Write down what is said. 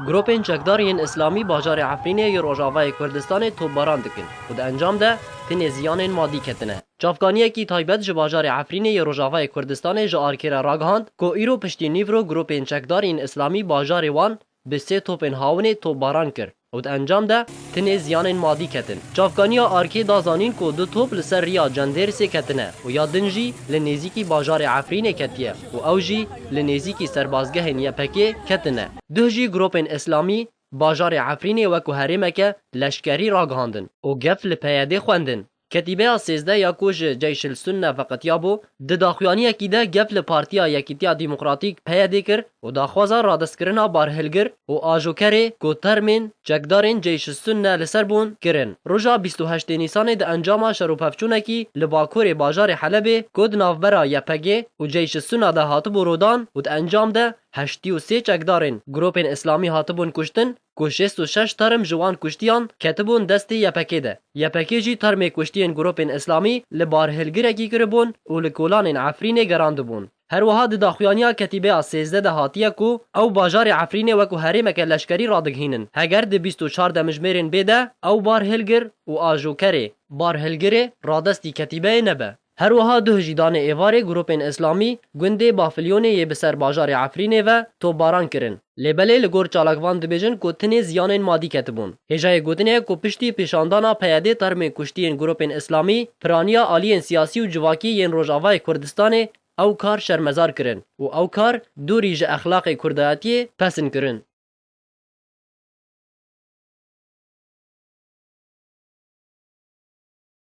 Gropên çekdar yên îslamî bajarê Efrînê yê rojavayê Kurdistanê topbaran dikin û di encam de tenê ziyanên madî ketine. Çavkaniyekî taybet ji bajarê Efrînê yê rojavayê Kurdistanê ji ARK'ê re ragihand ku îro piştî nîvro gropên çekdar yên îslamî bajarê wan bi sê topên hawinê topbaran kir. û di encam de tenê ziyanên madî ketin. Çavkaniya ARK da zanîn ku du top li ser riya Cendêrsê ketine û ya din jî li nêzîkî bajarê Efrînê ketiye û ew jî li nêzîkî serbazgehên YPG'ê ketine. Duh jî gropên îslamî bajarê Efrînê wek ku herêmeke leşkerî ragihandin û gef li PYD'ê xwendin. Ketîbeya sêzdeh ya ku ji Ceyşilsunne veqetiyabû, di daxuyaniyekî de gef li Partiya Yekîtiya Demokratîk, PYD'ê kir û daxwaza radestkirina barhilgir û ajokerê ku termên çekdarên Ceyşilsunne li ser bûn, kirin. Roja bîst û heştê Nîsanê di encama şerûpevçûnekî li bakurê bajarê Helebê ku di navbera YPG'ê û Ceyşilsunna de hatibû rodan û di encam de heştî û sê çekdarên gropên îslamî hatibûn kuştin, ku şêst û şeş term ji wan kuştiyan ketibûn destê YPK'ê de. YPK'ê jî termê kuştiyên grûpên Îslamî li barhilgirekî kiribûn û li kolanên Efrînê gerandibûn. Herwiha di daxuyaniya ketîbeya sêzdeh de hatiye ku ew bajarê Efrînê wekû herêmeke leşkerî radighînin, heger di bîst û çar demijmêrên bê de ew barhilgir û ajokerê, barhilgirê, radestî ketîbeyê nebe. Her wiha duh jî danê êvarê grûpên îslamî gundê Bafilyonê yê bi ser bajarê Efrînê ve topbaran kirin. Lê belê li gor çalak van dibêjin ku tenê ziyanên madî ketibûn. Hêjayê gotin ye ku piştî pêşandana PYD'ê termên kuştiyên grûpên îslamî, piraniya aliyên siyasî û civakî yên Rojavayê Kurdistanê ew kar şermezar kirin û ew kar dûrî ji exlaqê kurdayetiyê pesn kirin.